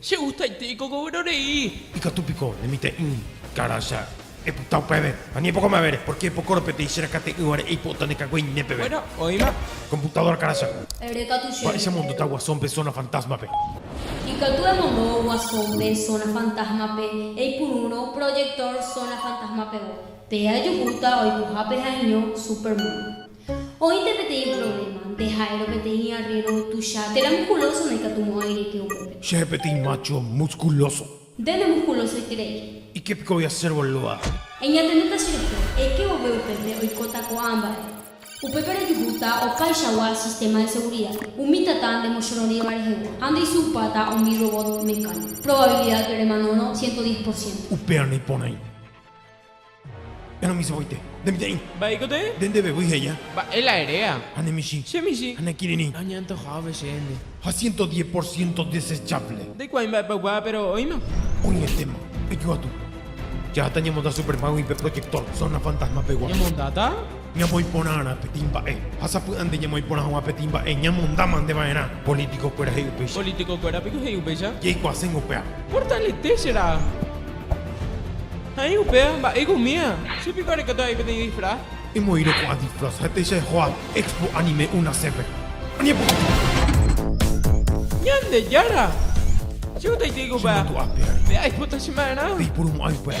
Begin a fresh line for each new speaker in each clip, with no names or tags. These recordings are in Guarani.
Che gustaite ikokovero rei. Ikatu piko ne mitã'i karãcha epyta upéve, ani epoko mavére, pórke epokórõ peteĩ che rakate'ỹvare eipo'ota ne kagueine peve. Bueno, oĩma. Komputadóra karãcha. Erekatu chéve. Mba'éicha emondota Guasón-pe Zona Fantasma-pe? Ikatu emondo Guasón-pe Zona Fantasma-pe, eipurúrõ proyector Zona Fantasma-pegua. Pe ajuhúta oikohápe ha'eño Superman. Oĩnte peteĩ provléma. Nde ha'érõ peteĩ arrero tuicha. Térã muskulóso ndaikatumo'ãi reke upépe. Chéve peteĩ mácho muskulóso. Nde nemuskulosoiterei. Ike piko voi asér, bolóa. Eñatendéta che rehe. Eke vove upépe oikóta ko'ã mba'e. Upépe rejuhúta opaichagua sistéma de segurida. Umi tata ndemochororĩva rehegua. Ha ndeisupáta umi robot mecánico. Probabilidad remanórõ ciento diez por ciento. Upérõ naiporãi. Enomichĩvoite. Nde mitã'i. Mba'éiko tee. Nde ndevevýi he'ia. Mba'e la eréa. Ha ne michĩ. Che michĩ. Ha ne kirirĩ. Añantojávo chéne. Ha ciento diez por ciento desechable. Ndaikuaái mba'épa oikuaa, péro oĩma. Oĩetéma. Ejoatu. Jaháta ñamonda Superman-gui pe proyector zona fantasma-pegua. Ñamondáta? Ñamoĩ porãrã peteĩ mba'e ha sapy'ánte ñamoĩ porã hag̃ua peteĩ mba'e ñamonda mante va'erã. Polítikokuéra he'i upéicha. Polítikokuéra piko he'i upéicha. Jeikuaaséngo upéva. Portalete che ra'a. Ha'e upéva mba'éiko umíva. Che piko arekóta avei peteĩ disfraz. Emoĩrõ ko'ã disfraz ha péicha ejoa Expo Anime Unace-pe. Añepoty! Ñandejára! Che guetaite aiko upéva. Che mandu'ape ári. Pe aipota che ma'erã. Peipurumo'ãi upéva.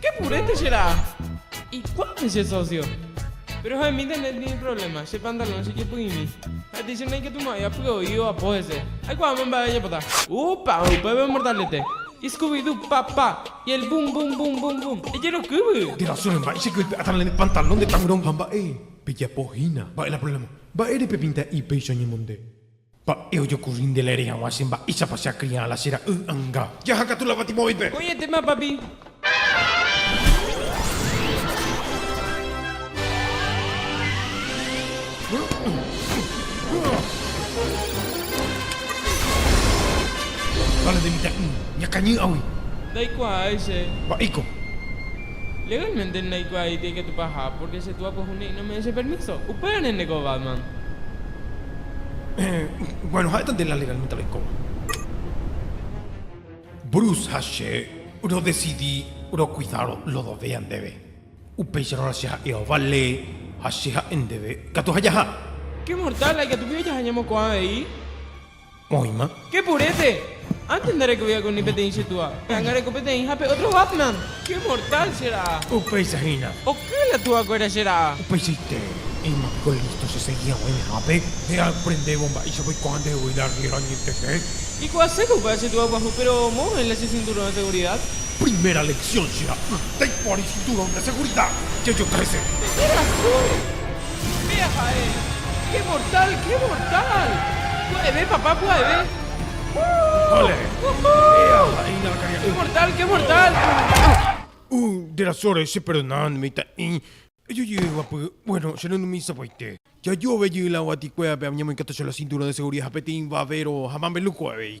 Ke purete che ra'a. Ikuápe che socio. Pero ha emi internet tine problema, che pantalón che jepy'imi. Ha tei che naikatumo'ãi apy'oi oapo hese. Aikuaáma mba'e ajapota. Upa, upépe mortalete. Y scooby doo, pa, pa. Y el boom, boom, boom, boom, boom. Ejerokývy! Nde razón mba'e che kype'áta ne pantalón de taburón. Ha mba'e pejapo hína. Mba'e la problema. Mba'ére pepinta'i péicha oñemonde. Mba'e ojokurri nde laere hag̃ua che mba'éichapa che akriã la che ra'y anga. Jaha katu la Fatimovaipe. Ko'ẽte mápapi. Vale nde mitã'i. Ñakañý'agui. Ndaikuaái che. Mba'éiko. Legalmente ndaikuaái ikatupa aja, pórke che túa pyahu ne'ỹ nome'ẽ che permíso. Upévare nde ko Batman. Bueno, ha'éta nde la legalmente roikóva. Bruce ha che rodesidi rokuida Lodovea ndéve. Upéicharõ che ha'e ovale ha che ha'e ndéve katu ha jaha. Qué mortal, la ikatupíva jaha ñemoko'ã avei. Oĩma. Che purete. Antes ndarekovéva con ni peteĩ che túa. Péa ngareko peteĩ ha pe otro Batman. Che mortal che ra'a. Upéicha hína. Oky la túa kuéra che ra'a. Upeichaite. Oĩma piko listo che segui haguã ñehápe. Nde aprendévo mba'éichapa oikuaa nde voi la arriero añetete. Ikuaase ko upe che túa guaju pero moõ oĩ la che cinturón de seguridad. Primera lección che ra'a. Ytéi ko ary cinturón de seguridad. Che yo trece. Che ra'a sólo. Péa ha'e. Qué mortal, qué mortal. Pya'eve papá, pya'eve. Vale. Péa ha'e iñakãkaria'y. Qué mortal, qué mortal. Uh, nde rasóre, cheperdonad, mitã'i. Ejojey guapy, bueno, che renumi sapy'aite. Jajove jey la guatikue ape añemoikatu che la cinturón de seguridad ha peteĩ vavero ha mameluco avei.